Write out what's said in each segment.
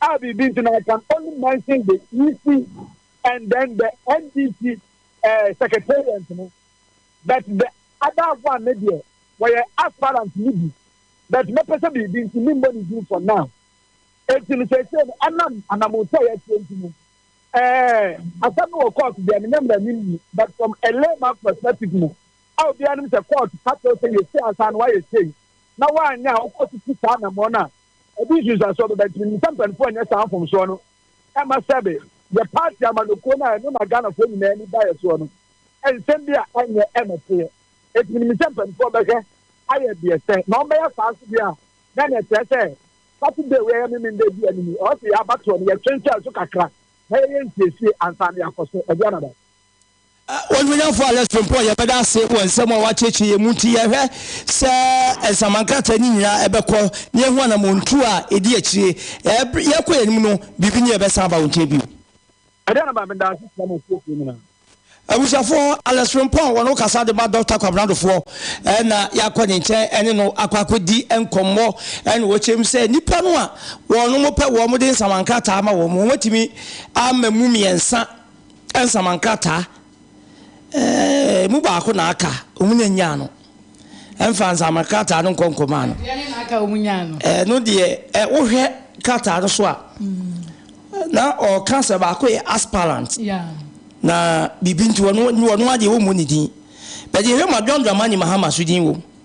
a biribi nti na I can only mention the EC and then the NDC uh, eh, secretariat no but the other one ne deɛ wɔyɛ aspirant ne bi but mɛpɛ sɛ biribi nti ne mbɔ ne din for now eti no sɛsɛ no ɛnam anamotɔ a yɛatie nti no ɛɛ asɛm no wɔ court deɛ menyɛ mmerɛ ne nni but from a layman perspective no a obiara nim sɛ court ka kyerɛ sɛ yɛsi asa no wayɛ sei na wanyɛ a wokɔ so si saa anamɔ no a Ɛde nsunsuansoɔ bɛba nti menim sɛ mpanimfoɔ renyɛ saa mfomsoɔ no mma sɛbe yɛ party amanyɔkuo no a ɛno na Ghanafoɔ nyinaa ani da yɛ soɔ no nsɛm bi a ɛnyɛ ɛna teɛ nti menim sɛ mpanimfoɔ bɛhwɛ ayɛ deɛ sɛ na wɔbɛyɛ saa nso deɛ a na na ɛkyerɛ sɛ Saturday wei a ɛyɛ Memen Day bi a anim ɔwɔ sɛ yɛn abatoɔ no yɛtwentwɛn so kakra na yɛyɛ nsiesie ansa na yɛakɔ so ɛdeɛ anada. Onuonyamfo Alex Frimpong, yɛbɛda ase wɔ nsɛm a woakyerɛkyerɛ yɛn mu nti. Yɛhwɛ sɛ nsɛmma nkrataa no nyinaa ɛbɛkɔ na yɛahu anammɔntuo a ɛdi akyire. Ɛberɛ yɛkɔ yɛn anim no, biribi nni a ɛbɛsan aba wo nkyɛn bio. Ɛdeɛn na Maame Daase kyerɛ mo fiefoɔ nyinaa? Abusuafoɔ, Alex Frimpong wɔ ne ho kasa de ma Dɔkta Kwabena Addofoɔ na yɛakɔ ne nkyɛn ne no akɔ akɔdi nkɔmmɔ na ɔkyerɛ mu sɛ nnipa no a wɔnom pɛ wɔn de nsɛmma nkrataa ma wɔn no, wɔatumi ama mu mmiɛnsa. Nsɛmma nkrataa emu baako na aka wɔn nya nyaa no. Ɛmfa nsɛmma krataa no nkɔ nkɔmaa no. Deɛ ne na aka wɔn nyaa no. Ɛno deɛ, ɛ, wohwɛ krataa no so a, na ɔreka sɛ baako yɛ aspirant. Yeah. Na biribi nti wɔn wɔn adeɛ wɔmmɔ ne din. Bɛde yɛhwɛ ma John Dramani Mahama so din wom.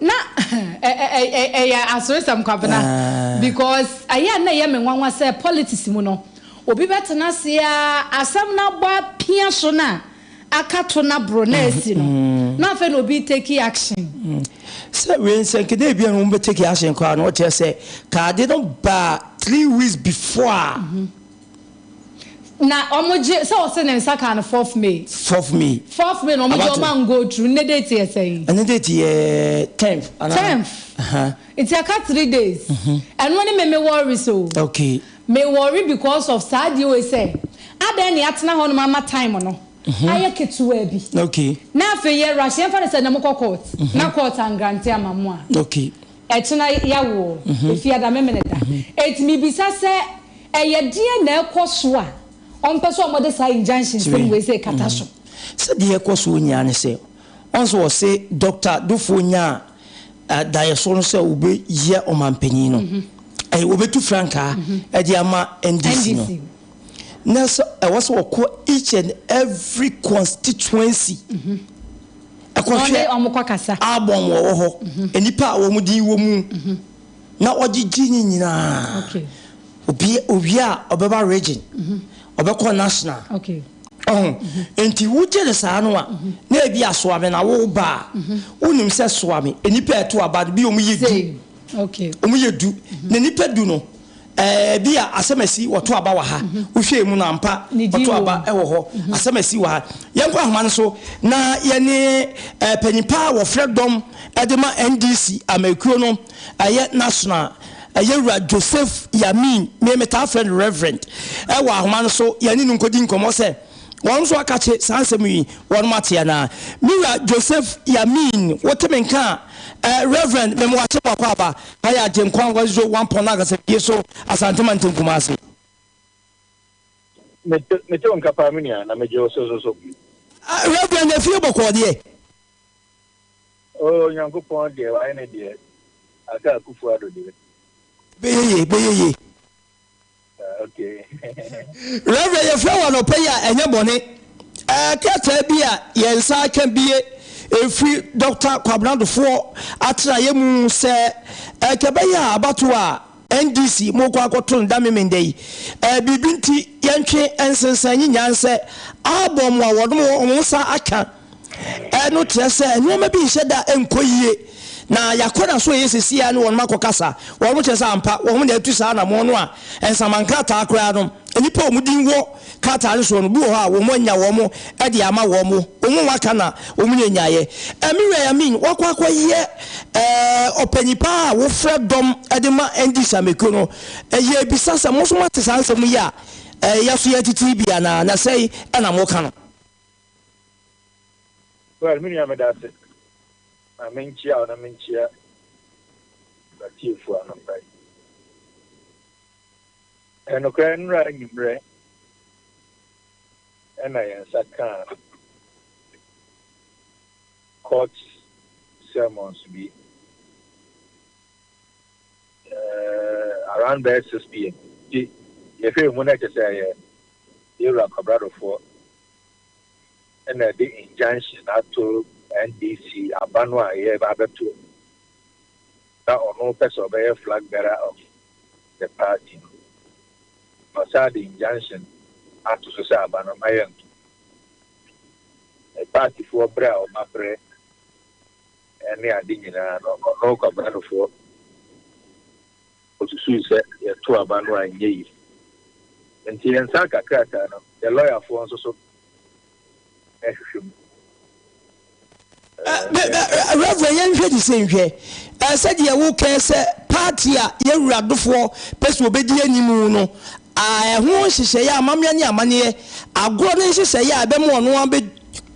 Na ɛyɛ aseresɛm Kwabena because ɛyɛ a na ɛyɛ me nwanwa sɛ politics mu no obi bɛtena ase ara asɛm no abɔ apia so na aka to na boro na asi no na afei na obi take action. Sɛ wei nsɛnkedeɛ ebia na wɔbɛ take action koraa no ɔkyerɛ sɛ ka ade no baa three weeks before a Na ɔmo gye sɛ ɔse ne nsa kaa no fourth May. Fourth May. Fourth May na ɔmo gye ɔmo an go through, nnɛ date yɛ sɛn? Ɛnnɛ date yɛ tenth anaa? Tenth. Nti ɛka three days. Ɛno ne me me worries o. Okay. Me worry because of saa adeɛ wei sɛ, adɛn na yɛatena hɔ nom ama time no ayɛ ketewaa bi. Okay. Na afei yɛ rush, yɛmfa no sɛ nnɛ mokɔ court na court an grante ama mo a. Okay. Ɛkyena yawo o, Efiada Memeneda. Enti mebisa sɛ ɛyɛ deɛn na ɛkɔ so a ɔmpɛ sɛ wɔde saa injunction nsɛm wei sei kata so? Sɛ deɛ ɛkɔ soɔ nyinaa ne sɛ, wɔn nso wɔse Doctor Dufour nyaa daeɛsoɔ no sɛ wɔbɛyɛ ɔmanpanin no, wɔbɛtu frankaa de ama NDC no. na sɛ ɛwɔ sɛ wɔkɔ each and every constituency ɛkɔhwɛ album wɔwɔ hɔ nnipa a wɔn din wɔ mu na wɔgyegye ne nyinaa obi owie a ɔbɛba region ɔbɛkɔ national ɔho nti wogye ne saa no a na ebi asoame na woba a wonim sɛ soame nnipa ɛto aba no bi wɔn yɛ du wɔn yɛ du na nnipa du no Ɛɛ, ebia asɛm a esi wɔ to aba wɔ ha. Wohwɛɛ mu no, ampa, ɔto aba wɔ hɔ. Asɛm a esi wɔ ha. Yɛnkɔ nhoma no so na yɛne ɛɛ panyin pa a wɔfrɛ dɔm de ma NDC amekuo no, ɛyɛ national, Yɛwura Joseph Yamin, me metaa frɛ no Reverend, wɔ ahoma no so, yɛne no nkɔdi nkɔmmɔ sɛ. Wɔn nso akakye saa nsɛm yi, wɔnom ate anaa? Me wura Joseph Yamin, wote me nka a, eh, Rev. Memwakye Boako Aba, ha yɛ Agyenkwa Nkwagyeso Wampɔn no Akasafie so, Asante Mantam Kumase. Mete, mete wo nka paa me nua, na megye wo so so so. Ah, Rev. Efie Bɔkɔɔ deɛ. Oh, Nyankopɔn deɛ, wayɛ ne deɛ. Aka Akufo-Addo deɛ. Bɛyɛ ye, bɛyɛ ye. Rev. Yɛfrɛ wo anɔpa yi a ɛnyɛ bɔne. Ɛɛ krataa bi a yɛn nsa aka bie ɛfiri Dɔkta Kwabena Adofoɔ atenaeɛ mu sɛ ɛka bɛyɛ a abatoɔ a NDC mokɔ akɔto no da memenda yi ɛɛ biribi nti yɛntwe nsensɛn nyi nyansɛ abɔ mo a wɔnom wɔn nsa aka. Ɛno kyerɛ sɛ nneɛma bi nhyɛ da nkɔ yie, na yɛn akwanna so a ɛyɛ sɛsi ara ne wɔn akɔkasa. Wɔn kyerɛ sɛ ampa wɔn na atu saa anammɔn no a nsama nkrataa koraa no, nnipa a wɔn din wɔ krataa no soɔ no, bi wɔ hɔ a wɔanya wɔn de ama wɔn. Wɔn a wɔaka na wɔnya nyaeɛ. Amirai Amin, wakɔ akɔyɛ ɔpanyin pa ara a wɔfrɛ dɔm de ma ND Sameko no. Yɛrebisa sɛ, mo nso moate saa nsɛm yi a yɛn nso yɛretete yi bi anaa? Na sɛn na moka no? Well me nua meda ase ma menkyia wo na menkyia w'atiefo anɔpa yi. Ɛyɛ nokorɛ nnora anwummerɛ ɛna yɛn nsa kaa court sermons bi uh, around bɛyɛ 6 pm nti yɛhwɛ mu na ɛkyɛ sɛ ɛyɛ yɛwura kwabradofoɔ na ɛde injunction ato NDC aba no a ɛyɛ abɛto no na ɔno pɛ sɛ ɔbɛyɛ flag bearer of the party no na ɔsan de injunction ato so sɛ aba no mma yɛnto partyfoɔ berɛ a ɔma berɛ ne ade nyinaa no ɔno kwabranofoɔ Osusuwii sɛ yɛtoo aba no anyɛ yiye, enti yɛnsan ka krataa no. Yɛn lɔyafoɔ nso so rehwehwɛ mu. Rev. Yɛnhwɛ de sei nhwɛ. Ɛɛ sɛdeɛ wo kɛɛ sɛ party a yɛn wura dofoɔ pɛ sɛ ɔbɛdi anim no, a ɛho nhyehyɛeɛ, amammerɛ ne amanneɛ, agorɔ ne nhyehyɛeɛ a ɛbɛma ɔno ara bɛ.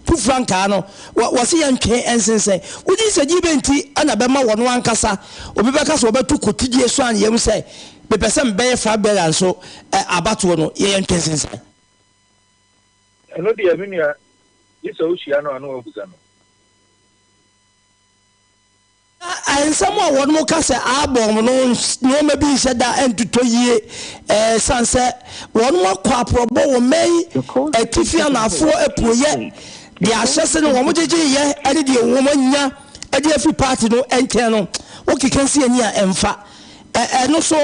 tu frankaa no, wɔse yɛntwe nsensɛn. Wogye di sɛ gye bɛn nti na bɛma wɔn ankasa? Obi bɛka sɛ wɔbɛto kotodie so anaa yɛahu sɛ mepɛ sɛ mebɛyɛ Frank Berger nso abatoɔ no, yɛyɛ ntwe nsensan. Ɛno deɛ me nua, gye sɛ wohyia no a na woabisa no. Na nsɛm a wɔnom ka sɛ aabɔ wɔn no nnoɔma bi nhyɛ da ntotɔ yie ɛsiane sɛ wɔnom akɔ aporɔbɔ wɔ Maine atifi anaafoɔ apueɛ de ahyɛ se ne wɔn gyegyeeyɛ ne deɛ wɔn anya de afiri paati no nkyɛn no wokeka nsi ani a ɛmfa ɛno so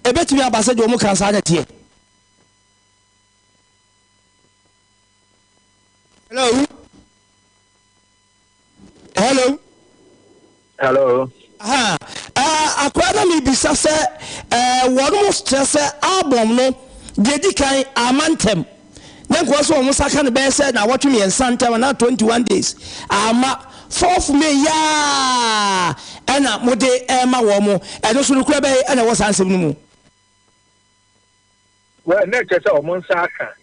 ɛbɛtumi aba sɛ deɛ wɔn ka saa na ɛteɛ. Hello. hello. hello. Uh, uh, akora na mebisa sɛ uh, wɔn mo kyerɛ sɛ album no deɛ di kan ama ntɛm na nkoa so wɔn saka no bɛyɛ sɛ na wɔtwe mmiɛnsa ntɛm na 21 days ama fourth may yaa ɛna mode ɛma wɔn mo ɛno so no kura bɛyɛ ɛna ɛwɔ saa nsɛm no mu. Well, na ɛkyerɛ sɛ wɔn nsa aka.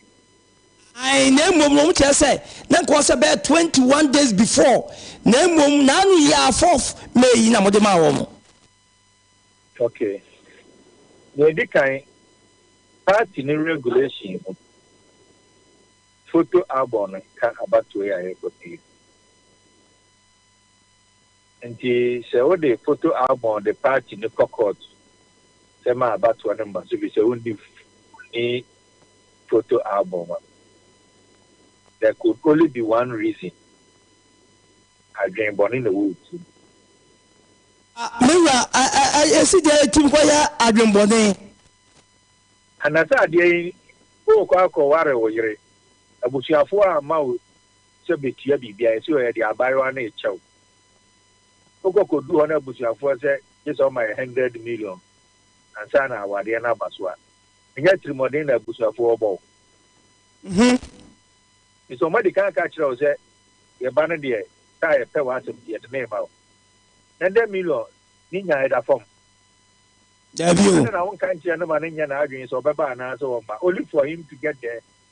Ae, na mmom no, wɔkyerɛ sɛ na nka ɔsɛ bɛyɛ twenty one days before, na mmom n'ano yɛ a fourth May yi na wɔde maa wɔn. Okay. Nea edi kan, party ne regulation mu photo album no nka abatoɔ yi a yɛrekɔ pii no. Ntsi sɛ wode photo album de party no kɔ court sɛ ma abatoɔ no mma so bi sɛ wonni wonni photo album a, there could only be one reason, adwen bɔne na wɔ wo tsir mu. Ah me wura, yɛse deɛ ɛtim kɔ yɛ adwenbɔne. Anasɛ adeɛ yi worekɔ akɔ ware wo yere, abusuafoɔ amma wo sɛ betua biribi a, ɛsɛ ɔyɛ deɛ abaayewa no rekyɛ wo. Wokɔ kɔdu hɔ na abusuafoɔ sɛ gye sɛ ɔma yɛ hundred million ansa na awadeɛ no aba so a, ɛnyɛ atirimuɔden na abusuafoɔ rebɔ wo. Ho. Ɛfiri sɛ wɔadi kan aka akyerɛ wo sɛ yɛ ba no deɛ taa yɛpɛ w'asɛm nti yɛde no rema wo. Hundred million ne nya ɛda fam. Daabi o. Adɛn na wonka nkyerɛ no ma no nyɛ n'adwene sɛ ɔbɛba anaasɛ ɔremma? Only for him to get there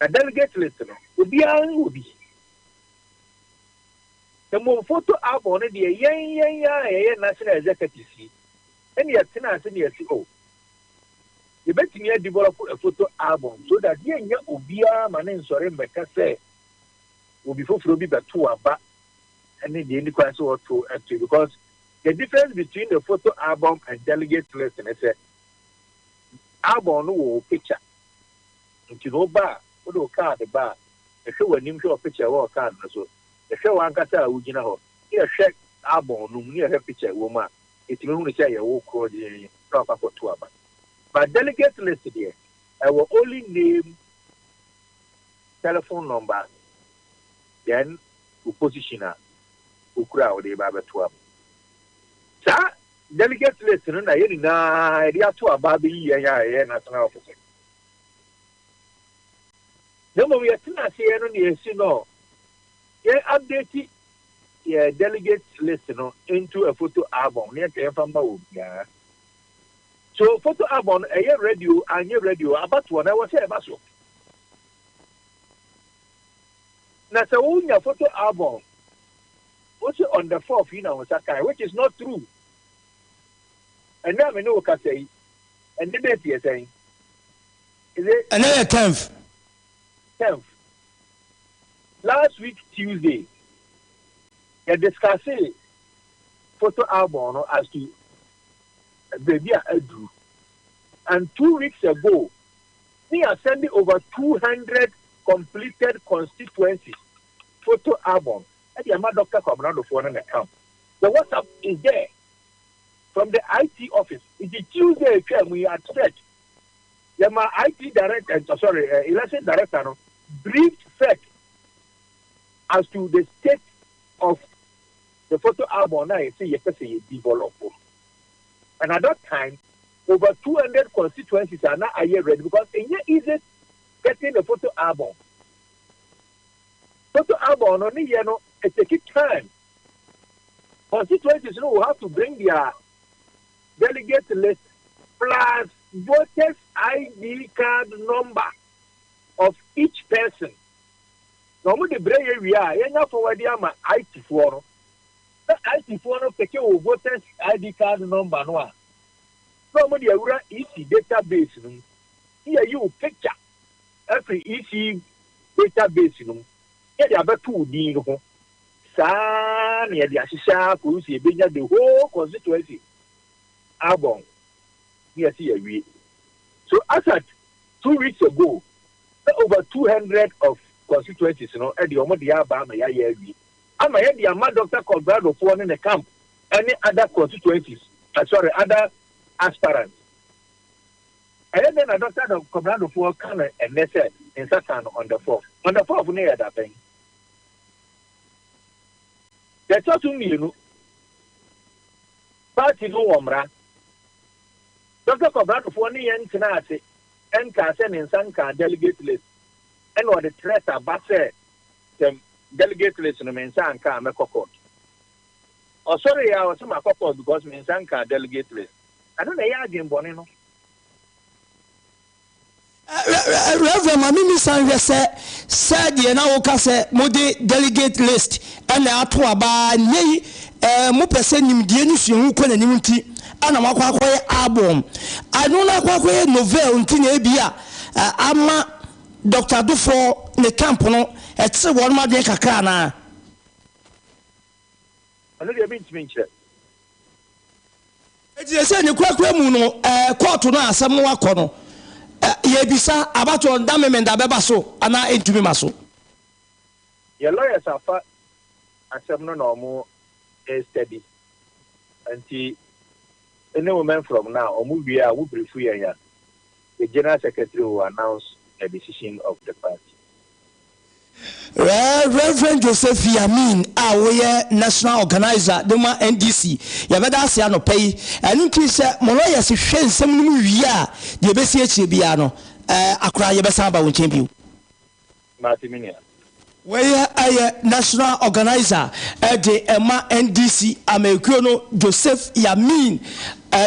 Na delegate list no, obiara wɔ bi. Mmom photo album no deɛ, yɛn yɛn ara a yɛyɛ National Executives yi na yɛtena ase na yɛse oh, yɛbɛtumi a develop a photo album so that yɛnnya obiara ma no nsɔre mmɛka sɛ obi foforɔ bi bɛto aba ne deɛ ɛni kwan sɛ wɔto ato because the difference between the photo album and delegate list ne sɛ album no wɔ wo picture Enti sɛ woba a, wode wo kaade ba a, yɛhwɛ w'anim hwɛ wɔ pikya a ɛwɔ wo kaade no so, yɛhwɛ w'ankasa a wugyina hɔ, na yɛhwɛ albɔm no mu na yɛhwɛ pikya a ɛwɔ mu a, yɛtumi hunu sɛ ɛyɛ wo korɔ din na woakɔ akɔto aba. But delegate list deɛ, ɛwɔ only name, telephone number, then wo position a wokura a wode reba abɛto aba. Saa Delegate list no na yɛn nyinaa yɛde ato aba abɛyi yɛn a yɛyɛ national officers. Na mmom yɛtena ase yɛ no nea yɛsi no yɛn update yɛ delegate list no into a photo album na yɛka yɛmfa mma obiara. So photo album no ɛyɛ ready o anyɛ ready o abatoɔ na ɛwɔ sɛ ɛba so. Na sɛ wonya photo album Wose on the fourth yi na wo nsa kae which is not true. Ɛnnɛ a me ne wo kasa yi, ɛnnɛ date yɛ sɛn? Is it? Ɛnnɛ yɛ tenth. Tenth. Last week Tuesday, yɛ discussee photo album no as to baabi a aduru. And two weeks ago, ne yɛ asɛnde over two hundred completed constituencies photo albums. de ama Doctor Kwabena Adofo ne ne camp. The WhatsApp is there from the IT office. Nti Tuesday a etwaa mu yi at sec, yɛma IT director, eh, sorry, uh, election director no briefed sec as to the state of the photo album na yɛsɛ yɛpɛ sɛ yɛ develop. And at that time, over 200 constituencies are now ready because it's easy getting the photo album. Toto album no ne yɛ no eteki time constituencies no will have to bring their delegate list plus voters ID card number of each person na ɔmo de brɛ yɛ wie a yɛnya fɔwa de ama IT foɔ no na IT foɔ no peke wo voters ID card number no a na ɔmo de awura EC database no mu ne yɛ yi wo picture afiri EC data base no mu na yɛde abɛto wo din no ho. Saa ara na yɛde ahyehyɛ ara kɔsi sɛ yɛbɛnya the whole constituency album na yɛse yɛawie. So as at two weeks ago, na over two hundred of constituencies no de wɔn deɛ aba ama yɛayɛ awie ama yɛde ama Doctor Colbrado foɔ ne ne camp ne other constituencies, uh, sorry, other aspirants. Ɛyɛ dɛn na Dɔkta Doug Komrandofoɔ ka no ɛnnɛ sɛ nsa kaa no on the fourth? On the fourth no yɛ da bɛn? Deɛ ɛtɔ so mmienu, party no wɔ mmara. Dɔkta Komrandofoɔ ne yɛn tenaa ase nkaa sɛ ne nsa nkaa delegate list ɛna ɔde threat aba sɛ sɛ delegate list no me nsa anka a mɛkɔ court. Ɔsɔreeɛ ara ɔse makɔ court because me nsa nkaa delegate list. Ɛno na ɛyɛ adwemmɔne no. Rev. Ma me mmisa nhwɛ sɛ sɛ deɛ na woka sɛ mode delegate list na ato aba a nnɛ yi mopɛ sɛ nimdeɛ ne suahu kɔ n'anim nti na moakɔ akɔyɛ album ɛno na akɔ akɔyɛ novel nti na ebi a ama Dr. Adofoɔ ne camp no ɛkyere wɔn adwene kakra anaa? Ɔno deɛ mentumi nkyerɛ. Enti seesei ne korakora mu no, ɛɛ, kɔɔto no a asɛm no akɔ no, ɛ, yɛrebisa abatoɔ no, da Memenda bɛba so anaa ɛntumi ma so? Yɛn lawyers afa asɛm no na wɔn restudy, nti, ne wo mɛnfrɔm no a wɔn wie a, wo briefu yɛn a. The General Secretary will announce the decision of the party. Rev. Josephy Amin a woyɛ National Organiser de ma NDC, yɛbɛda ase anɔpa yi. Ɛno nti sɛ mo lawyers hwɛ nsɛm no mu wie a, deɛ ɛbɛsi akyire biara no, ɛɛ, akora yɛbɛsan aba wo nkyɛn bio. Mate me nua. Wei yɛ National Organiser de ma NDC amanyɔkuo no Joseph Yamin,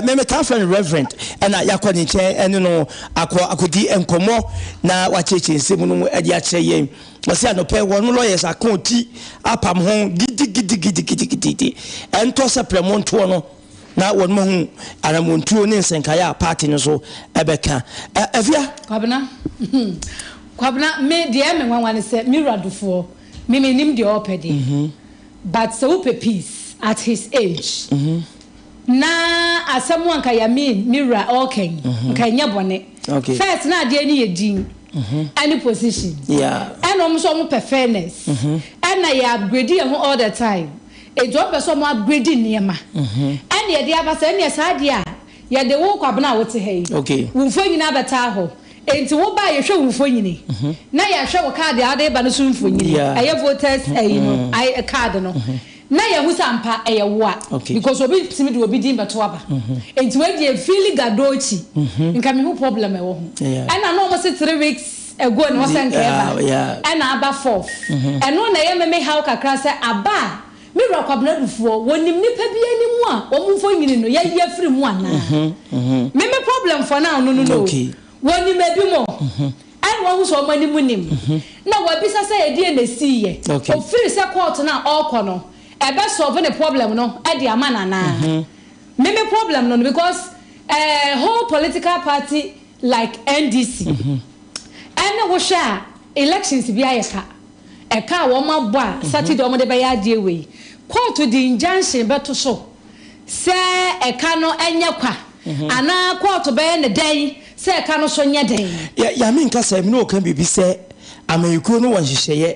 me metaa frɛ no Reverend, ɛna yɛakɔ ne nkyɛn ɛne no akɔ akɔdi nkɔmmɔ na wakyerɛkyerɛ nsɛm no mu de akyerɛ yɛn. Ɔse anɔpɛ wɔn lawyers ako ti apam ho gidigidigidigidi, ɛntɔ sɛ prɛmo ntoɔ no. na wɔn ahu anamɔntuo ne nsɛnkaeɛ a paati no nso bɛka. Afia. Kwabena, hmm, Kwabena, me deɛ ɛyɛ me nwanwa ne sɛ, me wura Dufoɔ, me mennim deɛ ɔɔpɛ deɛ, but sɛ wopɛ peace at his age, na asɛm a nka Yamin, me wura, ɔɔka yi, nka ɛnyɛ bɔne. First, na adeɛ no yɛ din ɛne position, ɛna wɔn nso wɔpɛ fairness, ɛna yɛ upgrade yɛn ho all the time. Enti wɔn pɛ sɛ wɔn upgrade nneɛma ɛna yɛde aba sɛ ɛneɛ saa deɛ a yɛde wo Kwabena a wote ha yi wo mfonyin abɛtaa hɔ enti wo ba a yɛhwɛ wo mfonyini na yɛhwɛ wo card a wode ba no so mfonyini ɛyɛ voters ɛyi no card no na yɛhu sɛ ampa ɛyɛ wo a because obi ntumi de obi din bɛto aba enti wei deɛ ɛfeeli gadoo akyi nka mehu problem a ɛwɔ ho ɛna na wɔn se three weeks ago na ɔsɛ nka ɛba ɛna aba fourth ɛno na ɛyɛ me me haw kakra sɛ aba a me wura kwabena dufoɔ wɔnim nipa bi anim a wɔn mfonyini no yɛyi afiri mu anaa me me problem for now no no no wɔnim ebi mo ɛna wɔn ho sɛ wɔn anim nim na wɔabisa sɛ ɛdeɛ na ɛsii yɛ ofiri sɛ court no a ɔrekɔ no ɛbɛ solve ne problem no ɛde ama no anaa me me problem no no because ɛɛ whole political party Like NDC ɛne wo hwɛ a elections bi ayɛ ka ɛka a wɔn abɔ a Saturday wɔn de bɛyɛ adeɛ wei court de injunction bɛto so sɛ ɛka no nyɛ kwa anaa court bɛyɛ ne dɛn sɛ ɛka no so nyɛ dɛn. Yɛ Yame nkasa yi mu na ɔka biribi sɛ amanyɔkuo no wɔ nhyehyɛeɛ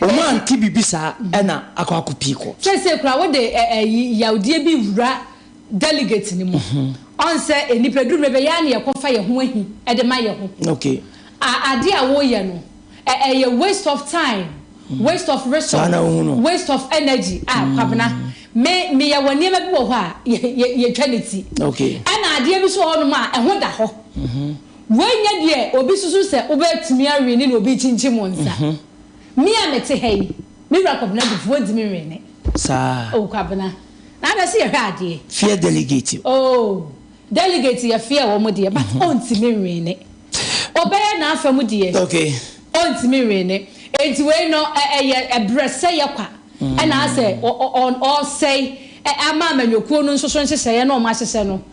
Wɔn a nte biribi saa na akɔ ako pii kɔ. Seesei koraa wode ɛ ɛ yi yawdeɛ bi wura delegate no mu. Ɔn sɛ nnipa duru mmerɛ bi ɛyɛ a na yɛkɔfa yɛn ho ahi de ma yɛn ho. Okay. A adeɛ a woreyɛ no ɛ ɛ yɛ waste of time, waste of Saa na resource, wohu no. waste of energy. A Kwabena, me me yɛ wɔ nneɛma bi wɔ hɔ a yɛ yɛ yɛtwa ne ti. Okay. Ɛna adeɛ bi nso wɔ hɔnom a ɛho da hɔ. Wei nyɛ deɛ obi susu sɛ wobɛtumi awene ne obi kyinkyim wo nsa. Me a mete ha yi, me wura Kwabena Dufo, wontumi nwene. Saa. Oh Kwabena. Na na se yɛhwɛ adeɛ. Fear delegate. Oh delegate yɛ fear wɔn deɛ but ontumi nwene. Obɛyɛ n'afa mu deɛ. Okay. Ontumi nwene. Enti wei no ɛyɛ brɛsɛyɛ kwa ɛna asɛ ɔsɛe ama amanyɔkuo no nso so nhyehyɛeɛ na wɔn ahyehyɛ no.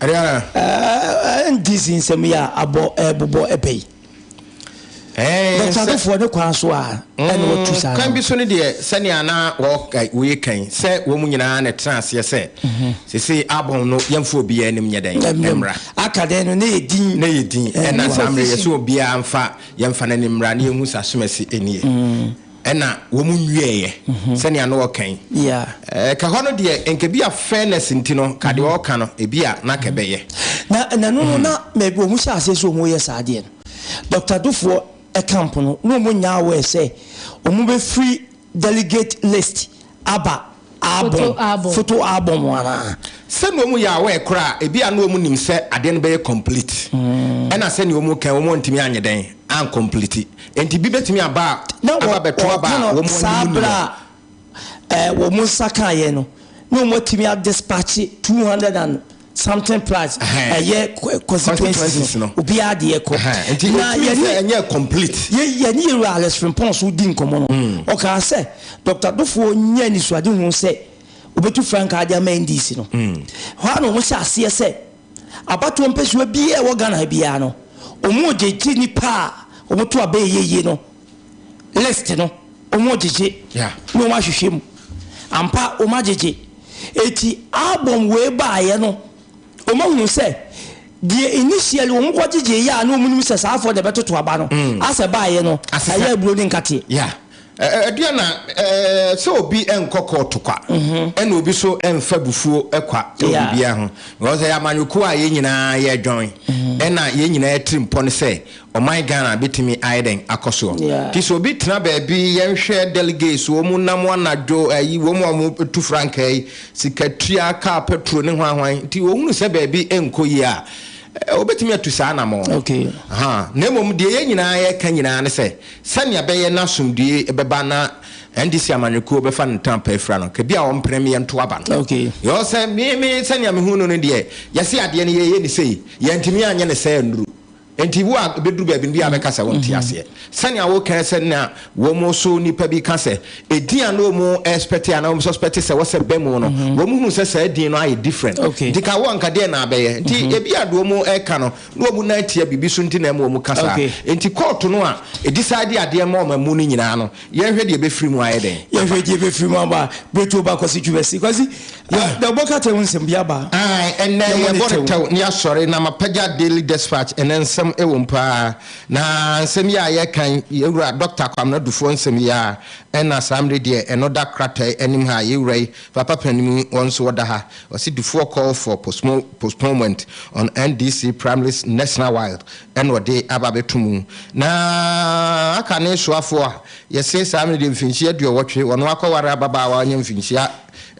Ariana. Ɛɛ NDC nsɛm yi a abɔ ɛɛbobɔ ɛpɛ yi. Ɛɛ nsɛ. Bɛtsadofoɔ ne kwan so a ɛna wɔtu saa no. Kwan bi so no deɛ sɛnea na wɔ woyɛ kan sɛ wɔn nyinaa na ɛtena aseɛ sɛ sesei album no yɛmfa obiara anim nyɛ dɛn mmra. Aka dɛn no na yɛ din. Na yɛ din ɛna saa mmerɛ yɛsɛ obiara mfa yɛmfa no anim mmra na yɛnhu sɛ asomasi nie. ɛna wɔn nwieɛ sɛnea na ɔka yi ɛka hɔ no deɛ nka bi a fairness nti no ka deɛ ɔka no ebi a na ka ɛbɛyɛ na ɛna no no na mɛbi wɔn hyɛ aseɛ sɛ wɔn yɛ saa adeɛ no Dr. Dofoɔ ɛka mpo no na wɔn nyaa wɔ ɛsɛ wɔn bɛfiri delegate list Aba album, photo album anaa? Sɛnea wɔn yɛ aware koraa a, ebia na wɔn nim sɛ adeɛ no bɛyɛ complete. Ɛna sɛnea wɔn kan wɔn antumi anyɛ dɛn an complete. Enti bi bɛtumi aba a aba bɛto aba a wɔn ani mu nni hɔ. Ɛɛ wɔn nsa kaeɛ no, na wɔn atumi a dispatch two hundred and. something plus ɛyɛ constituencies no obiara deɛ kɔ na yɛne complete yɛne yɛwura Alex Frimpong so di nkɔmmɔ no hmm. ɔkaa sɛ Dr. Dofoɔ nyɛ nisuade ho sɛ obɛtu frankaa de ama NDC no hmm. hɔ a na wɔn hyɛ aseɛ sɛ abatoɔ mpɛsoa biara ɛwɔ Ghana biara no wɔn gyegye nipa a wɔn to abɛyɛ yie no list no wɔn agyegye na wɔn ahwehwɛ mu ampa wɔn agyegye eti album wei baayɛ no wɔn ahunu sɛ deɛ initially wɔn kɔ gyegye yɛ a na wɔn nim sɛ saa afɔ na ɛbɛtoto aba no mm. asɛ baayɛ no ɛyɛ aburo ne nkateɛ. Yeah. ɛdeɛ na sɛ obi nkɔ kɔɔto kwa mhm. ɛna obi so mfa bufuo kwa ɛwɔ biribiara ho because ɛyɛ amanyɔkuo a yɛn nyinaa yɛdwɔn mhm. ɛna yɛn nyinaa tiri mpɔ no sɛ Ɔman Ghana bɛtumi ayɛ dɛn akɔ soɔ? Nti sɛ obi tena baabi, yɛnhwɛ delegates, wɔn nam anadwo, ayi, wɔn a wɔtu frankaa yi, sikatua, kaa petro ne hwan hwan, nti wɔhunu sɛ baabi nkɔ yie a, wɔbɛtumi atu saa anammɔn no. Na mmom deɛ yɛn nyinaa yɛka nyinaa ne sɛ, sɛnea ɛbɛyɛ na asomdwoeɛ bɛba na NDC amanyɔkuo bɛfa no ntɛm pɛ afira no, ka bi a wɔmpene me yɛnto aba no. Because sɛ me, me, sɛnea mehu no no deɛ, yɛse adeɛ no yɛyɛ no sei, yɛantumi anyɛ no sɛɛ nnuru. Enti wo a ebeduru baabi no, ebia wobɛka sɛ wonte aseɛ. Sɛnea woka ara sɛ na wɔso nnipa bi ka sɛ edin a na wɔrespɛte anaa wɔsuspɛte sɛ wɔsɛ ba mu no, wɔhuu sɛ saa din no ayɛ different. Nti ka wo anka deɛn na abɛyɛ? Nti ebia deɛ wɔreka no, na wɔn nan tia biribi so nti na ɛma wɔka saa. Enti kɔɔto no a edecide adeɛ ma wɔn amu no nyinaa no, Yɛnhwɛ deɛ ɛbɛfiri mu ayɛ dɛn. Yɛnhwɛ deɛ ɛbɛfiri mu aba. Berɛtuo ba Kwasi Twumasi. Kwasi, dɛ wobɔ ka tɛw nsɛm bi aba. Ae, ɛnnɛ yɛbɔ no tɛw na yɛasɔre na mapagya Daily Despatch ɛnnɛ nsɛm wɔ mu pa ara. Na nsɛm yi a yɛreka yi, yɛn wura Dɔkta Kwamena Dufoɔ nsɛm yi ara, ɛna saa mmerɛ deɛ ɛno da kratae anim ha a yɛn wura yi, Papa Panin yi, wɔn nso wɔda ha. Ɔse Dufoɔ call for postponement on NDC primaries nationwide. na ɔde aba abɛto mu, na aka ne soafoɔ a yɛse saa mmerɛ deɛ mfinhyia aduɔwɔtwe, ɔno akɔware ababaawa a ɔnyɛ mfinhyia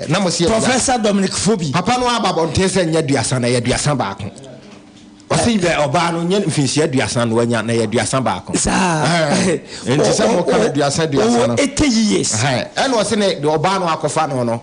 na mo se yɛ aduasa. Professor Dominic Fobi. Papa no aba abɔnten sɛ nyɛ aduasa na ɛyɛ aduasa baako. Ɔse yɛ ɔbaa no nyɛ mfinhyia aduasa na wanya na ɛyɛ aduasa baako. Saa. Nti sɛ mo ka no aduasa aduasa no. Ɔwɔ 80 years. Ɛna ɔse ne deɛ ɔbaa no akɔfa no no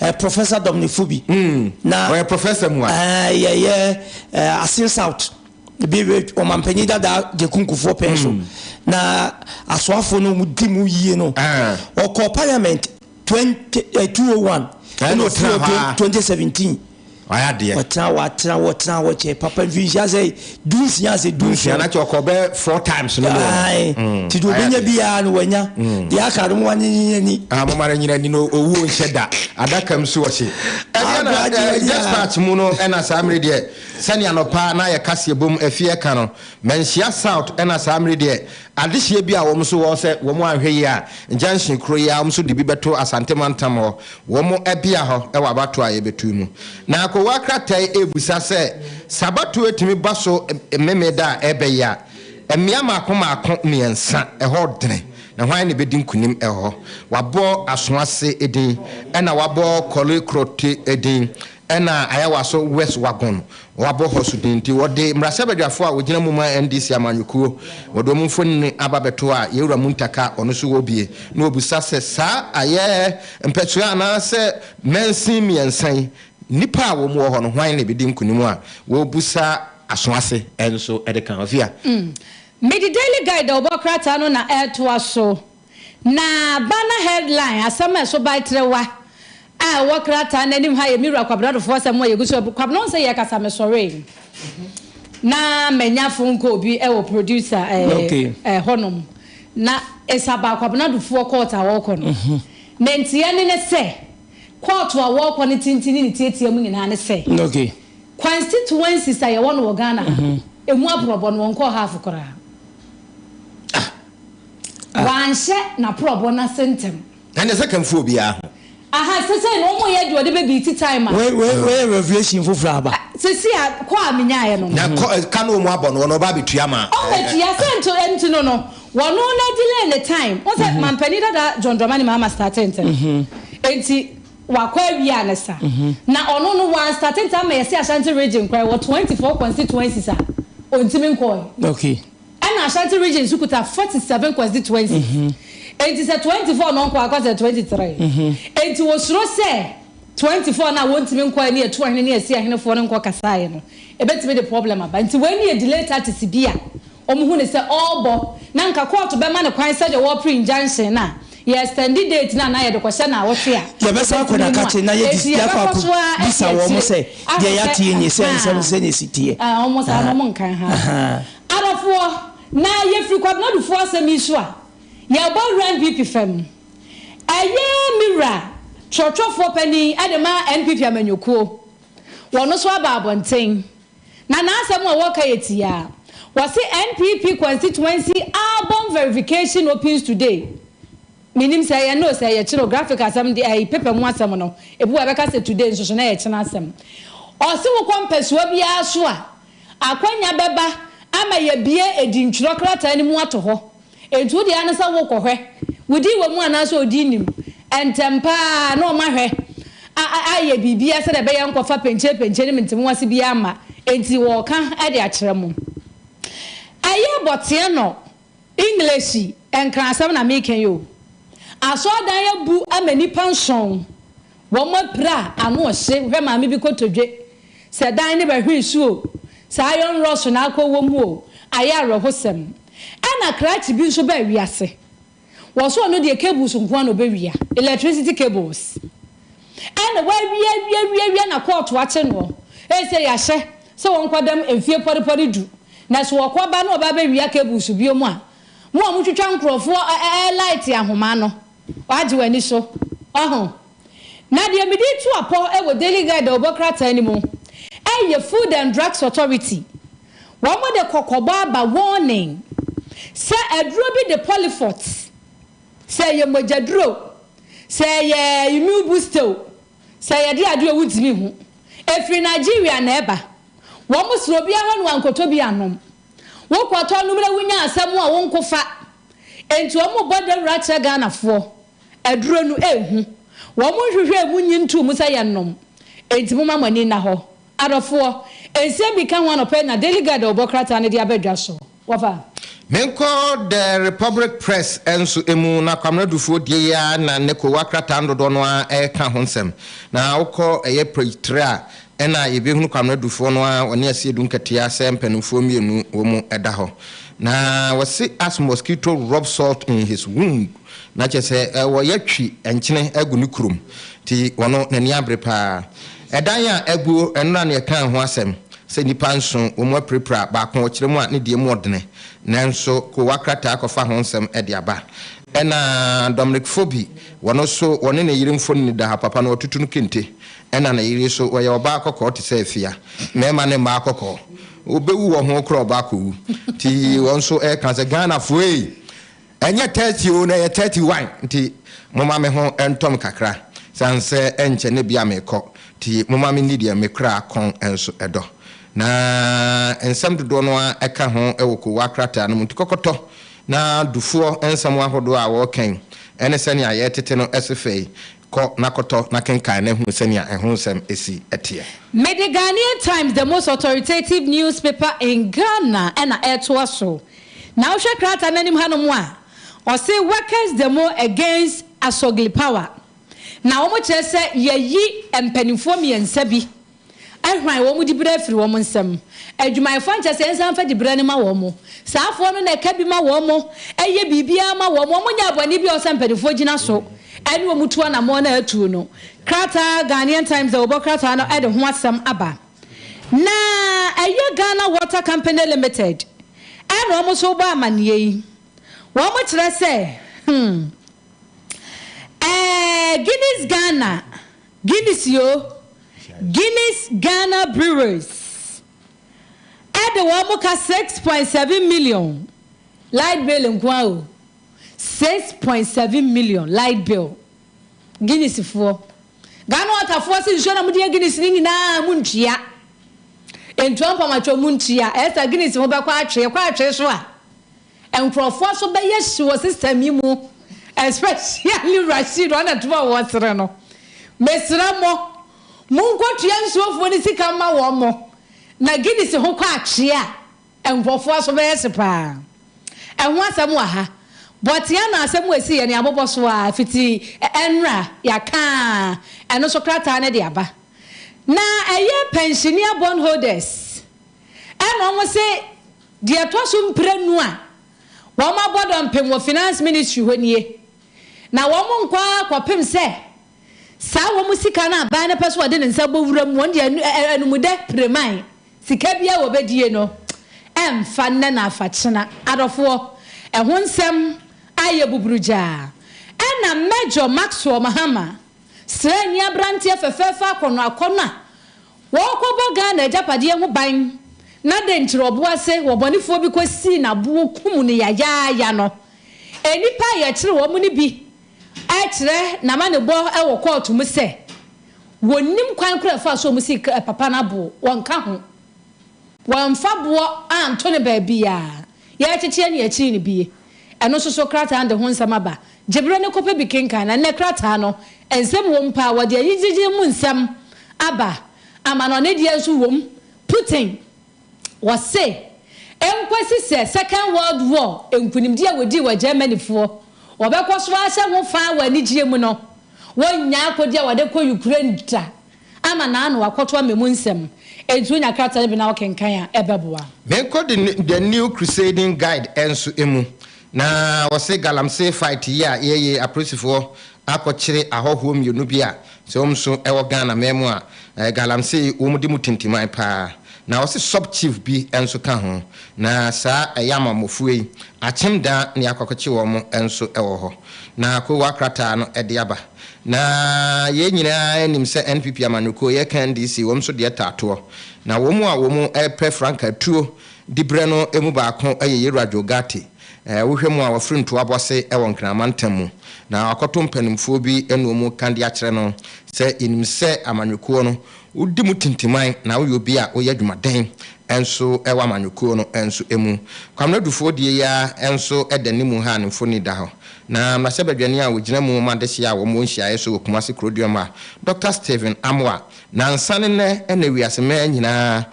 eh, Professor Dominic Fubi. Mm. Na ɔyɛ professor mu a. Eh, yɛ yɛ eh, Asin South. Bi ɔmampanyin dada Gyekunkufoɔ pɛn so. Mm. Na asoafo no mu di mu yie no. Ah. Ɔkɔ parliament 20, eh, 201. Ɛna ɔtena hɔ a. 2017. Wayɛ adeɛ. Ɔtena hɔ atena hɔ tena hɔ kyɛ papa mfinhyia sɛ du nsia ase du nsia na kyɛ ɔkɔ bɛ four times no no ae mm. ti do benya bi ya no wanya mm. de aka no mo anye nyina ni ah mo mara nyina ni no owu nhyɛ da adaka msu ɔhye ɛbia na eh, yes part mu no ɛna saa mmere deɛ sɛnea nɔpa na yɛ kaseɛ bom afie ɛka no manhyia south ɛna saa mmere deɛ Adehyeɛ bi a wɔn nso wɔ sɛ wɔn anhwɛ yie a junction koro yi ara wɔn nso de bi bɛto Asante mantam hɔ wɔn bea hɔ wɔ abatoɔ a yɛbɛto yi mu. Na akowaa krataa yi rebisa sɛ sɛ abatoɔ yi tumi ba so Mmemeda a ɛrebɛ yi a, mmea mmaako mmaako mmiɛnsa, ɛhɔ dene, na hwan na ɛbɛdi nkunim wɔ hɔ? Wɔabɔ Asoase din, ɛna wɔabɔ Korle Korotey din, Ɛna ayɛ w'aso west wagon wabɔ hɔ so din nti wɔde mmarahyɛbadwafo a wɔgyina mu ma NDC amanyɔkuo wɔde wɔn mfonini aba bɛto a Yawura Muntaka ɔno nso wɔ bie na ɔbusa sɛ saa ayɛ mpɛsoa anaasɛ mansin mmiɛnsa yi nnipa a wɔn wɔ hɔ no hwan na ɛbɛdi nkunim a wɔbusa aso ase nso de ka ho. Afia. Me The Daily Guide a wɔbɔ krataa no na ɛretoa so. Na banner headline, asɛm a ɛso bae trewa, a ɛwɔ krataa no anim ha yɛ me Wura Kwabena Adofo asɛm a yegu so abu. Kwabena, ɔnsɛ yɛ kasa, mesɔree na manya phone call bi wɔ producer ɛɛ hɔnom na it's about Kwabena Adufoɔ court a wɔrekɔ no. Na nteɛ ne ne sɛ, court a wɔrekɔ no tenten ne ne tiatia mu nyinaa ne sɛ, constituencies a yɛwɔ no wɔ Ghana ha no, ɛmu aborɔbɔ no wɔnkɔɔ half koraa. a. Wanhyɛ n'aporɔbɔ no ase ntɛm. Ɛnde ɛsɛ ka mfu obiara ho. Aha, sesei no wɔn yɛ deɛ ɔde bɛ bii ti time a. Wei, wei, wei yɛ revelation foforɔ a aba. Sesei a, kɔ a menyaeɛ no. Na kɔ, ka no wɔn abɔ no, wɔn ɔba abɛtua ma. Ɔbɛtua, sɛ nto, nti no no, wɔn no na delay ne time. Wohu sɛ mampanin dada John Dramani Mahama startee ntɛm, enti wakɔ awia ne sa. Na ɔno no, wɔn anstate ntɛm ama yɛse Ashanti region koraa, ɛwɔ 24 constituencies a, ɔntumi nkɔɔɛ. Okay. Ɛna Ashanti region nso kuta forty seven constituency enti sɛ twenty four no nkɔ a ɛkɔ sɛ twenty three enti wɔsuro sɛ twenty four no a wɔntumi nkɔɛ ne atuahene ne asiahenefoɔ no nkɔ kasaeɛ no ɛbɛtumi de problem aba nti wei no yɛ delay tactics bi a wɔn hu no sɛ ɔrebɔ na nka kɔɔto bɛma no kwan sɛdeɛ wɔrepre injunction no a yɛ extend date no anaa yɛde kɔhyɛ naawɔtwe a Yɛbɛsan akɔ na ɛbɛtumi akakye mu a na yɛde enti yɛakɔ yɛbɛkɔ so ara akɔ akɔbisa wɔn akyire sɛ deɛ ahwɛ sɛ yɛateɛ nie sɛ nsɛm no ahaa sɛdeɛ ɛsi teɛ. ah wɔn saa no wɔn nka ahaa Ahaa. Adɔfoɔ, na yɛfiri Kwabena Adufuo asɛm yi so a, yɛbɔ awura NPP fam. Ɛyɛ me wura twerɛtwerɛfoɔ panin de ma NPP amanyɔkuo. Ɔno nso aba abɔnten, na n'asɛm a ɔreka yɛ tiaa. Ɔse NPP constituency album verification opens today. Mennim sɛ ɛyɛ nnɛ o, sɛ ɛyɛ kyena o, graphic asɛm deɛ, ɛyi paper mu asɛm no, ebi wɔ hɔ a ɛbɛka sɛ today nso so na ɛyɛ kyena asɛm. Ɔse wokɔ mpasua biara so a, Akwanya bɛba ama yɛabue adintwerɛ krataa no mu ato hɔ. Enti wo deɛ ara ne sɛ worekɔhwɛ. Wodin wɔ mu anaasɛ odin nni mu. Ntɛm pa ara na wɔahwɛ a a ayɛ biribiara sɛdeɛ ɛbɛyɛ nkɔfa penkyerepenkye ne mentemoase biara mma. Enti wɔreka de akyerɛ mo. Ɛyɛ bɔteɛ nɔ English nkrasɛm na meka yi o. Asɔrdan abu ama nnipa nson, wɔn apira ano hye, wohwɛ maame bi kotodwe, sɛ dan no bɛhwe nsu o, sɛ iron rod so na akɔ wɔ mu o, ayɛ awerɛhosɛm. Ɛna krakye bi nso baa wiase, wɔse ɔno deɛ cables nkoa na ɔbɛwia, electricity cables. Ɛna w'awieawieawieawie na kɔɔto akye noɔ. Ɛsɛ y'ahyɛ sɛ wɔnkɔ dɛm mfie pɔrepɔre du. Na sɛ wɔkɔ ba na wɔba bɛ wia cables bio mo a, mo a mo twitwa nkorɔfoɔ ɛɛ light ahomaa no, w'agye w'ani so. Waho? Na deɛ mede retu apɔ wɔ Daily Guide dawubɔ krataa no mu ɛyɛ Food and Drugs Authority. Wɔn de kɔkɔbɔ aba warning sɛ aduro bi de Polyfort. Sɛ ɛyɛ mogyaduro o, sɛ ɛyɛ immune booster o, sɛ ɛyɛ de ade o, wodwene ho. Ɛfiri Nigeria na ɛba. Wɔsra obiara hɔ na wankɔtɔ bi annom. Wokɔtɔ nom na wonya asɛm a, wonko fa. Enti wɔbɔ dawuro akyerɛ Ghanafoɔ. Aduro no, ɛhu. Wɔnhwehwɛ ɛmu nyi ntoo mu sɛ yɛnnom. Enti momma mo ani nna hɔ. Adɔfoɔ, nsɛm bi ka ho anɔpa yi na Daily Guide a wɔbɔ krataa no de aba dwa so. Wɔfa. Menkɔ The Republic Press nso mu, na Kwamena Dufoɔ die yi ara na nnɛ Kowaa krataa no dodoɔ no ara reka ho nsɛm. Na wokɔ ɛyɛ page three a, ɛna yɛbɛhunu Kwamena Dufoɔ no ara, ɔne Asiedu Nketeaa sɛ mpanimfoɔ mmienu wɔn da hɔ. Na wɔse as mosquito rub salt in his wound, na kyerɛ sɛ wɔyɛ twi nkyene agu ne kurom, nti ɔno n'ani abere pa ara. Ɛdan a aguo, ɛno na ne yɛkaa ho asɛm. Sɛ nnipa nson wɔn mu apirapira baako wɔ kyerɛ mu a, ne deɛ mu ɔdene. Nanso Kowa krataa kɔfa ho nsɛm de aba. Ɛna Dominic Fobi, wɔn nso wɔne ne yere mfonini da ha. Papa no, wɔatutu no kente. Ɛna ne yere nso, ɔyɛ ɔbaa kɔkɔɔ te sɛ afia. Mmarima ne mmaa kɔkɔɔ. Wɔbɛwu wɔ ho koraa ɔbaa kɔwu. Nti wɔn nso reka sɛ, Ghanafoɔ ei! Ɛnyɛ thirty o na ɛyɛ thirty one nti moma me ho ntɔm kakra sane sɛ ɛnkyɛ ne bea mekɔ nti moma menni deɛ me kra kɔn nso dɔ na nsɛm dodoɔ no ara ɛka ho wɔ kowaa krataa no mu nti kɔkɔtɔ na dufoɔ nsɛm ahodoɔ a wɔka yi ne sɛnea yɛretete no se fɛ yi kɔ na kɔtɔ na kenkan na hunu sɛnea ɛho nsɛm si teɛ. Mede Ghanaian Times the most authoritative newspaper in Ghana na ɛretoa so. Na wohwɛ krataa no anim hanom a, ɔse Workers Demo Against Asogli Power. Na wɔkyerɛ sɛ yɛayi mpanimfoɔ mmiɛnsa bi ahran wɔn diberɛ afiri wɔn nsam. Adwumayɛfoɔ ankyɛ sɛ yɛnsan mfa diberɛ no ma wɔn. Saa afoɔ no na ɛka bi ma wɔn, ɛyɛ biribiara ma wɔn. Wɔnyɛɛ bɔne biara a ɛwɔ sɛ mpanimfoɔ gyina so ne wɔn tu anammɔn a atuo no. Krataa Ghanaian Times a wɔbɔ krataa no de ho asɛm aba. Na ɛyɛ Ghana Water Company Limited na wɔn nso rebɔ amaneɛ yi. Wɔkyerɛ sɛ hmm ɛɛ Guinness Ghana, Guinness yo, Guinness Ghana Breweries de wɔn ka six point seven million light bill nko ara o, six point seven million light bill. Guinness foɔ. Ghana water foɔ se nsuo na mo de yɛ Guinness no nyinaa mo ntua. Ntua mpam atwom mo ntua. Ɛyɛ saa Guinness ho bɛkɔ atwe. Ɛkɔ atwe so a, nkorɔfoɔ nso bɛyɛ hye wɔ system yi mu. Especially Rashid ɔne ne toɔ a ɔwɔ sere no. Mesrɛ mo, monkɔtua nsuo foɔ no sika mma wɔn. Na Guinness ho kɔ atwe a, Nkurɔfoɔ aso bɛyɛ hye paa. Ɛho asɛm wɔ ha. Bɔtea na asɛm wɔ esi yɛ ne abobɔ so aa fiti ɛnra yaka ɛno so krataa no de aba. Na ɛyɛ pensionea bond holders ɛna wɔn se deɛ ɛtɔ so mprenu a wɔn abɔ dɔmpem wɔ finance ministry hɔ nie. Na wɔn nkɔ aa kɔpem sɛ Saa wɔn sika no aban no pɛ sɛ wɔde ne nsa bɔ wuram, wɔn deɛ anumdɛ pireman, sika biara wɔbɛdie no, ɛmfa nnɛ na afakyena. Adɔfoɔ, ɛho nsɛm ayɛ buburugyaa. Ɛna Major Maxwell Mahama, sraani abranteɛ fɛfɛɛfɛ akɔnɔ akɔnɔ a ɔɔkɔbɔ Ghana agyapadeɛ ho ban na dɛn nti ɔboa se wɔbɔnefoɔ bi kɔsii naboɔ kum no yayaaya no, nnipa a yɛkyere wɔn no bi Ɛkyerɛ n'amanebɔ wɔ kɔɔto mu sɛ, wɔnnim kwan koraa a ɛfa so a wɔsi papa no abo, wɔnka ho, wɔamfa boɔ anto no baabiara, yɛrekyekyeɛ ne akyiri no bie. Ɛno nso so krataa no de ho nsɛm aba. Gye berɛ na kɔpɛ bi kenkan. Na nnɛ krataa no, nsɛm wom paa, wɔde ayigyegyeɛ mu nsɛm aba. Amanɔne deɛ nso wom. Putin Wɔse enkosi sɛ Second World War nkunimdi a wɔdii wɔ Germanyfoɔ wɔbɛkɔ so ahyɛ ho faa wɔ anigyeɛ mu no, wɔnnya akode a wɔde kɔ Ukraine da ama n'ano akɔto ama emu nsɛm. Enti wonya krataa no bi na wokenkan a, ɛbɛboa. Meekɔ de ne The New Crusading Guide nso mu, na wɔse galamsey fight yi a yɛyei apolisifoɔ akɔkyere ahɔhoɔ mmienu bi a sɛ wɔn nso wɔ Ghana man mu a, galamsey wɔn de mu tintiman pa ara. Na ɔse sub chief bi nso ka ho. Na saa ɛyɛ ama mmɔfuo yi. Akyem daa ne akɔkɔkye wɔn nso wɔ hɔ. Na koowa krataa no de aba. Na yei nyinaa nim sɛ NPP amanyɔkuo yɛ ka NDC wɔn nso deɛ taa toɔ. Na wɔn a wɔn pɛ frankaa tuo de brɛ no mu baako yɛ Yɛwura Joe Ghartey. Ɛɛ, wohwɛ mu a, wafiri ntoa bɔse wɔ Nkrama ntam mu, na wakɔto mpanimfoɔ bi noɔ mu ka de akyerɛ no sɛ, Yɛnim sɛ amanyɔkuo no, wodi mu tintiman na woyɛ obi a woyɛ adwumaden nso wɔ amanyɔkuo no nso mu. Kwamena Dufoɔ deɛ yi ara nso da ne mu ha a ne mfoni da hɔ. Na mmarahyɛbadwani a ɔgyina mu ma adehyeɛ a wɔwɔ nhyiaeɛ so wɔ Kumasi Kuroduam ha, Dɔkta Stephen Amoah Nnansa ne nnɛ na wiase mmaa nyinaa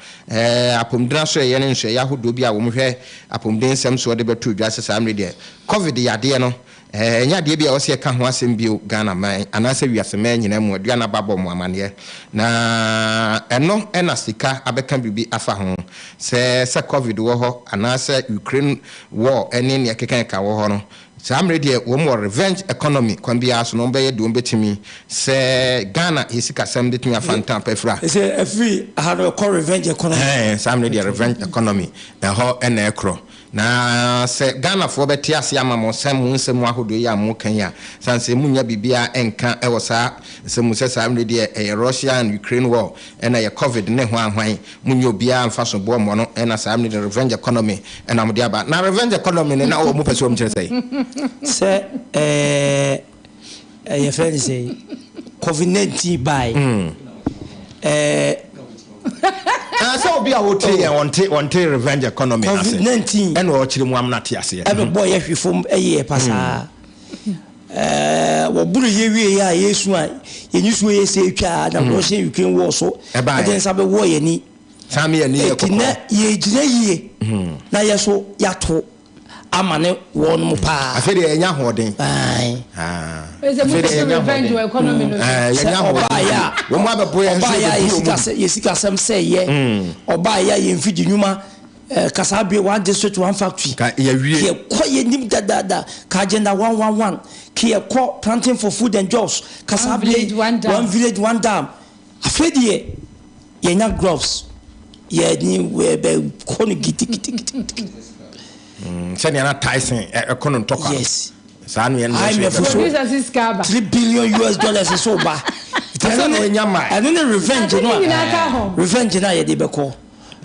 apɔmudinasoɛeɛ ne nsoɛeɛ ahodoɔ bi a wɔhwɛ apɔmuden nsɛm soɔ de bɛtoo dwa sɛ saa mmerɛ deɛ Covid yadeɛ no ɛnyɛ adeɛ bi a ɛwɔ sɛ yɛka ho asɛm bio Ghana man anaasɛ wiase mmaa nyinaa mu. Aduane aba abɔ mo amaneɛ na ɛno na sika abɛka biribi afa ho sɛ sɛ Covid wɔ hɔ anaasɛ Ukraine war ne nea ɛkekakeka wɔ hɔ no Saa mmere deɛ wɔn wɔ revenge economy kwan biara so no wɔn bɛyɛ deɛ wɔn bɛtumi sɛ Ghana yɛ sikasɛm de tumi afa ntan pa afira. Sɛ ɛfiri ha no ɛkɔ revenge economy. Ɛhɛɛ saa mmere deɛ revenge economy ɛhɔ na ɛkorɔ na sɛ Ghanafoɔ bɛte aseɛ ama mo sɛ mo nsɛm ahodoɔ yi a mo ka yi a sane sɛ mo nnya biribiara nka wɔ saa nsɛm mu sɛ saa mmere deɛ ɛyɛ Russia and Ukraine war ɛna ɛyɛ covid ne hwan hwan Munyi obiara mfa so boa mmoa no na saa mmere no revenge economy na wɔde aba. Na revenge economy no na wɔpɛ sɛ wɔkyerɛ sɛn? Sɛ ɛɛ yɛfrɛ no sɛn covid 19 bae ɛɛ. Ɛɛ sɛ obi a ɔtie yɛn ɔnte ɔnte revenge economy no ase covid 19 ɛna ɔkyerɛ mu amena te aseɛ. ɛbɛbɔ yɛ hwe fam ɛyɛ pasaa. Ɛɛ, wɔboro yɛ wiei a, yɛresu a, yɛn nisuo yɛ sɛ atwa a, na Russian Ukraine war so de nsa bɛwɔ yɛn ani. Saa me yɛ ne yɛ kɔkɔ. Ɛti na yɛgyina yie na yɛ so yɛato ama ne wɔn mo paa. Afei deɛ yɛnya ahoɔden. Ae. Afei deɛ yɛnya ahoɔden. Yɛnya ahoɔden. Wɔn abɛbɔ yɛn nso yɛbɛbu wɔn. Yɛsikasɛm sɛ yɛ. Ɔbaa yɛ a yɛn mfidi nnwuma. Eh, ka saa bere, one district, one factory. Ka yɛawie. Keɛ kɔ yɛnim dadaada. Ka agenda one one one. Keɛ kɔ planting for food and jobs. Ka saa bere, one village, one dam. Afei deɛ, yɛanya gloves. Yɛne wɛbɛ kɔ no gidigidigidi. Mm, sɛnea na Tyson ɛkɔ no ntɔkwa. Yes. Saa no yɛn na ɛsɛ. IMF so, three billion US dollars nso ba. Ɛno ne revenge no a, revenge no a yɛde bɛkɔ.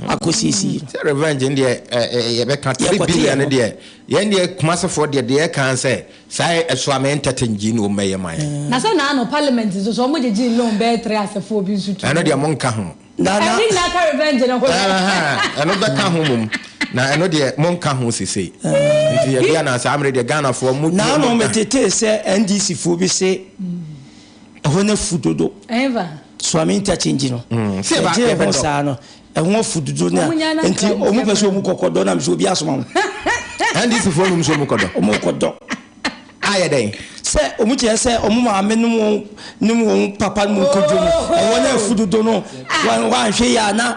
akɔsiesie. Sɛ revenge no deɛ ɛɛ yɛbɛka three Yɛkɔte billion yɛn no ho. deɛ yɛn deɛ Kumasefoɔ deɛ deɛ yɛka ara sɛ saa yɛ ɛso a me entertain gyee no mmɛyɛ ma yɛn. Na sɛ na ano parliament nso so ɔmo gyegyee loan bɛyɛ three asefoɔ bi nso tuu Ɛno deɛ wɔn. mo nka ho. Na na. Ɛne nyinaa ka revenge no ho yɛ. Ahaa ɛno bɛka ho mmom na ɛno deɛ mo nka ho sesei nti yɛdeɛ na saa mmere deɛ Ghanafoɔ mo deɛ Naano mo nka. metetee sɛ NDC foɔ bi se Ɛhɔ no afu dodo. Suame interchange no. Ɛgyina ɛhɔ saa no. Ɛho afu dodo na nti ɔmo pɛ sɛ ɔmo kɔkɔ dɔ na mi sɛ obi asoma mo. NDC foɔ nom sɛ ɔmo kɔdɔ. Ɔmo kɔdɔ. Ayɛ dɛn? Sɛ ɔmo kyerɛ sɛ ɔmo maame nom wɔn nom wɔn papa nom kɔdɔ mu. Ɛhɔ no afu dodo no. Wɔanhwɛ yie a na.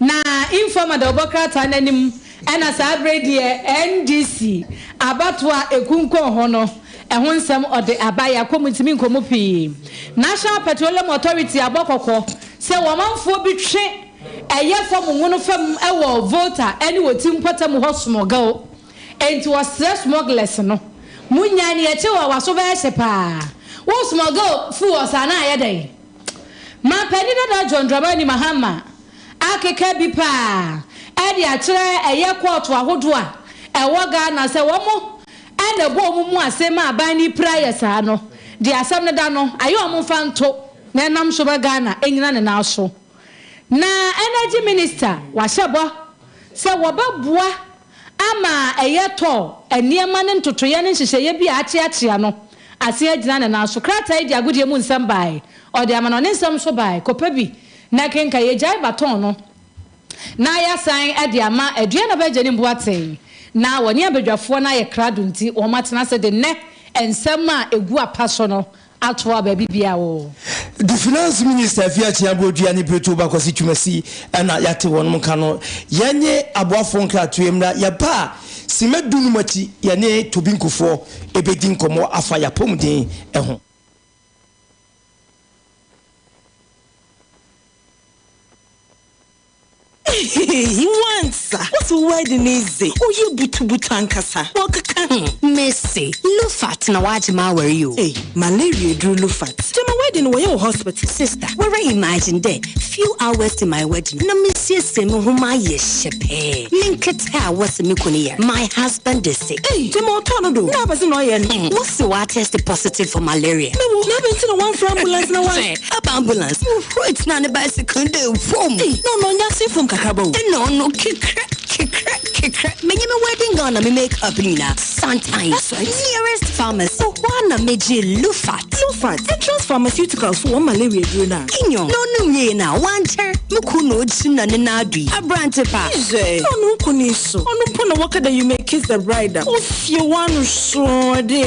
Na informer de ɔbɔ krataa no anim na saa bere yi deɛ NDC abatoɔ a ɛkunkun ho no ɛho nsɛm ɔde aba. Yɛakɔ mu ntumi nkɔ mu pii. National Petroleum Authority abɔ kɔkɔ sɛ wɔmanfoɔ bi twe ɛyɛ fam mono fam wɔ Volta ne Oti mpɔtam hɔ smɔgel. Enti wɔsrɛ smɔglɛs no, monyae na yɛkyɛ wo a w'aso bɛyɛ hye paa. Wo smɔgel fu wɔ saa no a ɛyɛ dɛn? Manpanin dada John Dramani Mahama akeka bi paa de akyerɛ ɛyɛ kɔɔto ahodoɔ a ɛwɔ Ghana sɛ wɔn na ɛbɔ wɔn mu ase ma aban no pira yɛ saa no, deɛ asɛm no da no ayɛ wɔn mfa nto na ɛnam so ma Ghana anyina ne nan so. Na Energy Minister wahyɛ bɔ sɛ wɔbɛboa. Ama ɛyɛ tɔɔ, nneɛma ne ntotoeɛ ne nhyehyɛeɛ bi a akyeakyea no ase agyina ne nan so. Krataa yi de agodie mu nsɛm baae, ɔde amanɔne nsɛm nso baae. Kɔpɛ bi na kenkan. Yɛagyae baton no na yɛasan de ama Aduanaba Agya Nim Boateng. Ná wɔne abadwafoɔ no ayɛ krado nti wɔatena ase de nnɛ nsɛm a ɛgu apa so no atoa baabi biaa oo. The finance minister fi akyi abodua ne bireto ba kwasi twumasi ɛna yate wɔnom nka no yɛnye aboafo nkratoe mmra yɛba a sima du num akyi yɛne tobi nkufoɔ ɛbɛdi nkɔmɔ afa yapɔmuden ɛho. Ehehe nwansa wo se wo wedding yi dze ɔyɛ butubutu ankasa wɔkeka ho. Me se lufat na wagye m'awar yi o. Ei malaria eduru lufat gyama wedding no wɔyɛ wɔ hospital. Sister wara imagine dɛ few hours to my wedding na mesiesie moho mayɛ hyɛ pɛɛ menketse. pɛ a wɔse me kunu yɛ my husband de se ei de ma ɔtɔɔ no do na abɛse na ɔyɛ no hmm wɔse watɛste positive for malaria na wo na abɛn nti na wamfrɛ ambulance na wa sɛ aba ambulance wo wait na ne bicycle de fom ei na ɔno ɔnya se fom kakraba o ɛna ɔno kekrɛ kekrɛ kekrɛ menye me wedding gown na me make up nyinaa. Santan that's my nearest pharmacy so hɔ a na megye lufat lufat entrance pharmaceuticals so wɔn malaria duro no a enyo na ɔnom wiei no a wankyɛr me kun na ɔkyim na ne nan ado yi aberante pa izɛ na ɔno nkoni so ɔno po na wɔka dɛ you may kiss the bride a ofie wano soɔ dɛ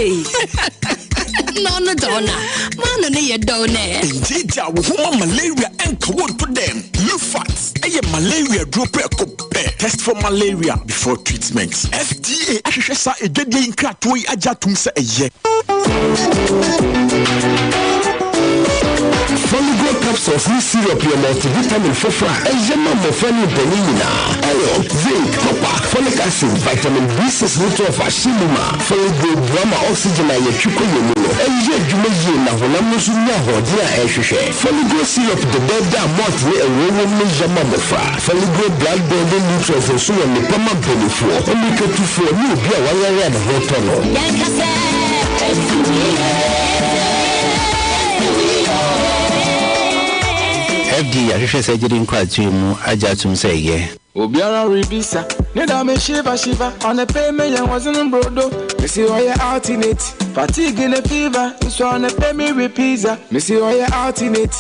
na ɔno dɔw na maano ne yɛ dɔw nɛ ɛngye gya wo ho ma malaria ɛnka wo nto dɛm lufat ɛyɛ malaria duro prɛko pɛ test for malaria before treatment. FDA ahwehwɛ saa adwadie yi nkratoɔ yi agye atom sɛ ɛyɛ. Foligo capsules ne syrup yɛ multivitamin foforɔ a ɛyɛ ma mmɔfra ne mpanin nyinaa. Iron, zinc, copper, folic acid, vitamin B6 ne 12 ahyɛ mu ma. Foligo boa ma oxygen a yɛtwe kɔ yɛn mu no yɛ adwuma yie na honam no nso nya ahoɔden a ɛhwehwɛ. Foligo syrup dɛdɛɛdɛ a malt ne ngo wom no yɛ ma mmɔfra. Foligree blood building nutrients nso wɔ nnepa ma benefoɔ, mmirikatufoɔ, ne obi a wayare a ne ho retɔ no. Yɛnka sɛ, Ɛnsi wo yiye, ɛnsi wo yiye, ɛnsi wo yiye o. FD ahwehwɛ sɛ gyidi nkratoe mu agye atom sɛ ɛyɛ. Obiara rebisa ne da me shiva shiva Anɔpɛ me yɛ wɔdzen mbrodo Mese ɔyɛ alternate Fatigue ne fever Nso anɔpɛ me we pizza Mese ɔyɛ alternate.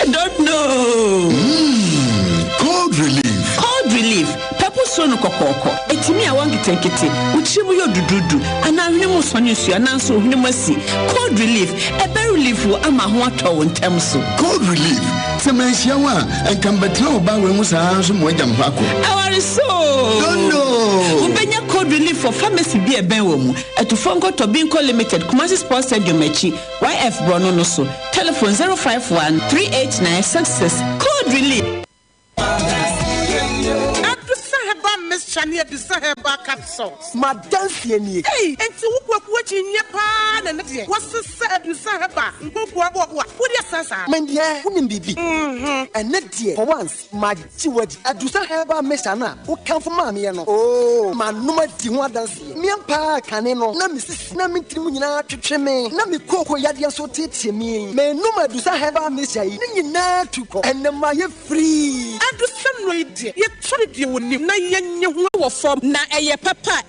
I don't know. Mm, cold relief. Cold relief. Pɛpo soro no kɔkɔɔkɔ. Etimi a wɔn nketenkete. Wotiri mu yɛ dududu. Anaa hwene mu sɔne nsuo. Anaa nso ohwene mu asi. Cold relief. Ɛbɛ relief wo ama ho atɔ wo ntɛm so. Cold relief. Sɛ manhyia wo a, nka mbɛtena wo baa wei mu saa nso mo agya mpa ko. Awari so. Don't know. Wobɛnya cold relief for pharmacy bi ɛbɛn wɔ mu. Ɛtufo nkɔtɔ Binko Limited, Kumasi Sports Stadium akyi. YF borɔno no so. Telephone zero five one three eight nine six six code relief. Adusa herbal mixture ne adusa herbal capsules. M'adanseɛ nie. Ei, enti wo kwaku akyinnyeɛ paa na ɛno deɛ wɔsesa adusa herbal nkokoa boɔboa wode asan saa? Mendeɛ wonim biribi. Ɛnɛ deɛ kɔ wans. Magye wo adi. Adu sɛ herbal mixture no a wokamfo maa meɛ no, oo, manom adi ho adanseɛ. Meɛn paa kane no, na me sisi na me tirim nyinaa twetwe me, na me kooko yadeɛ nso teetee me. Menom Adusa herbal mixture yi, ne nyinaa tu kɔ. Ɛnnɛ mayɛ free. Adusa nnuro yi deɛ, yɛtɔre deɛ wɔnim na yɛnyɛ ho wɔ fam. Na ɛyɛ papa a